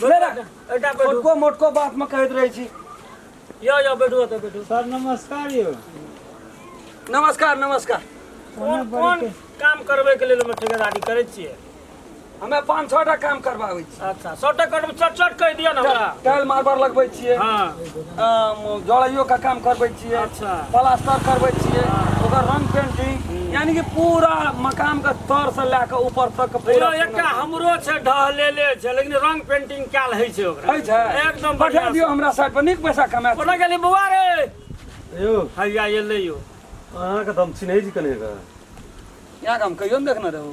छोटको मोटको बात में कहते रहे छी यो यो बैठो तो बैठो सर नमस्कार यो नमस्कार नमस्कार कोन कोन काम करबे के लेल हम ठेकेदारी करे छिए हमे पाँच छः टा काम करबाबै छी अच्छा सौ टा कट चट चट कह दिया ना हमरा टाइल मार्बल लगबै छिए हां जड़ैयो का काम करबै छियै अच्छा प्लास्टर करबै छियै ओकर रंग पेंटिंग यानी कि पूरा मकान के तर से लए के ऊपर तक के पूरा पूरा एकटा हमरो छै ढहलेले छै लेकिन रंग पेंटिंग कयल होइ छै ओकरा होइ छै एकदम पठा बढ़िया दियौ हमरा साइड पर नीक पैसा कमा कोना गेली बौआ रे यौ हैया एलै यौ अहाँके तऽ हम चिन्है छी कने के यहाँ हम कहियो ने देखने रहू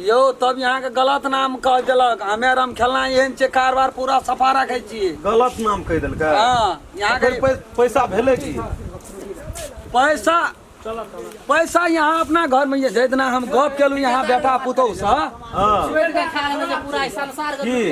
यौ तब यहाँ के गलत नाम कह देलक हमे आर हम खेलना एहन छियै कारबार पूरा सफा रखे छियै गलत नाम कह देलक हाँ यहाँ के पैसा भेले की पैसा पैसा यहाँ अपना घर में ये जेतना हम गप केलू यहाँ बेटा पुतौ से हाँ की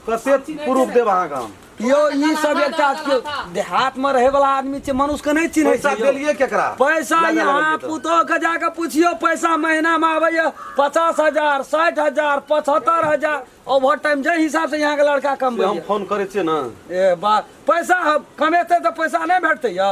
कते प्रूफ देब अहाँ काम यौ ई सब एकटा केओ देहातमे रहैवला आदमी छै मनुष्यके नहि चिन्है पैसा छै यौ। देलियै केकरा पैसा लगा यहाँ लेलियै तऽ। पुतोहके जाके पुछियो पैसा महीनामे आबैया पचास हजार साठि हजार पचहत्तर हजार ओवर टाइम जाहि हिसाबसँ यहाँके लड़का से हम कमबैया फोन करै छियै ने ए बा पैसा हम कमेतै तऽ पैसा नहि भेटतै यौ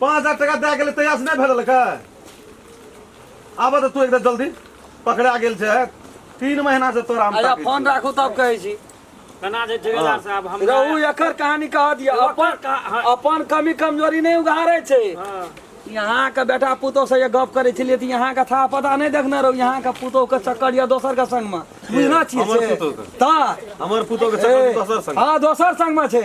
पाँच हजार टका दए गेलै तहियासँ नहि भेटलकै आबऽ तऽ तू एकदम जल्दी पकड़ा गेल छै तीन महीना से तोरा हम अच्छा ताकै फोन छियौ। राखू तब कहै छी केना छै ठेकेदार साहब हम रहू एकर कहानी कह दिया ओकर अपन कहा- हँ। अपन कमी कमजोरी नहीं उघारे छै हाँ। यहाँ के बेटा पुतोह से ये गप करे छलिए त यहाँ के था पता नहीं देखने रहो यहाँ के पुतोह के चक्कर या दोसर के संग में बुझना छिए हमर से पुतोह के। ता हमर पुतोह के चक्कर दोसर संग हाँ दोसर संग में छै